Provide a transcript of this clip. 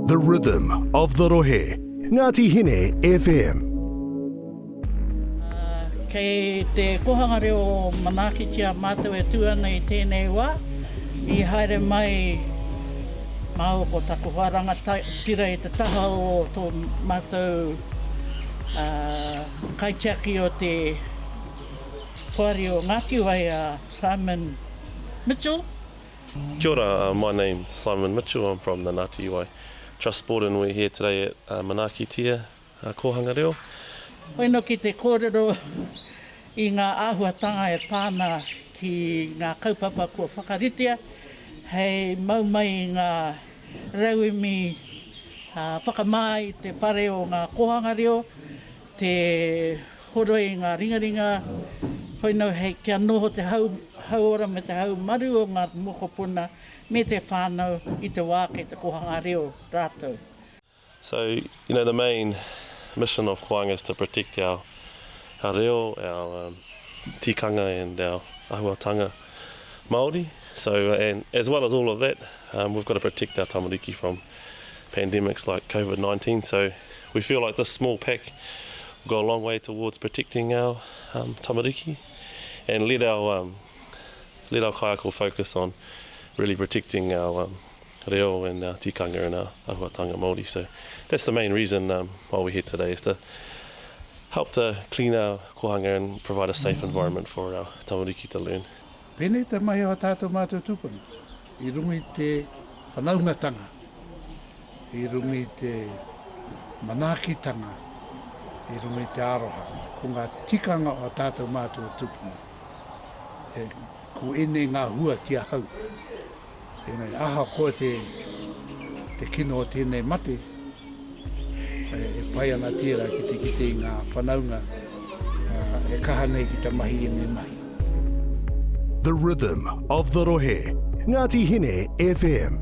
The rhythm of the rohe, Ngati Hine FM. Kei te Kohanga Reo manaakitia mātou e tū ana i tēnei wā, i haere mai māua ko taku hoa rangatira i te taha o tō mātou kaitiaki o te Poari o Ngāti Wai a Simon Mitchell, Kia ora, my name's Simon Mitchell, I'm from the Ngati Iwai Trust Board and we're here today at Manaakitia Kōhanga Reo. Hoi no ki te kōrero i ngā āhuatanga e pā ana ki ngā kaupapa kua whakaritea hei mau mai i ngā rauemi whakamā i te whare o ngā kōhanga reo, Te horoi i ngā ringaringa, koinau hei kia noho te hauora me te haumaru o ngā mokopuna me te whānau i te wā kei te kōhanga reo rātou. So, you know, the main mission of Koanga is to protect our reo, our tikanga and our ahuatanga. Māori, so and as well as all of that um, we've got to protect our tamariki from pandemics like COVID-19 so we feel like this small pack will go a long way towards protecting our um, tamariki and let our um, let our kaiako focus on really protecting our um, reo and our tikanga and our ahuatanga Māori so that's the main reason why we're here today is to help to clean our kohanga and provide a safe environment for our tamariki to learn. Pēnei te mahi o tātou mātou tūpuna i runga i te whanaungatanga, i runga i te manaakitanga, i runga i te aroha, ko ngā tikanga o tātou mātou tūpuna. Ko ēnei ngā hua ki ahau. Engari, ahakoa te, te kino o tēnei mate, e pai ana tērā ki te kite i ngā whanaunga e kaha nei ki te mahi ēnei mahi. The rhythm of the rohe, Ngati Hine FM.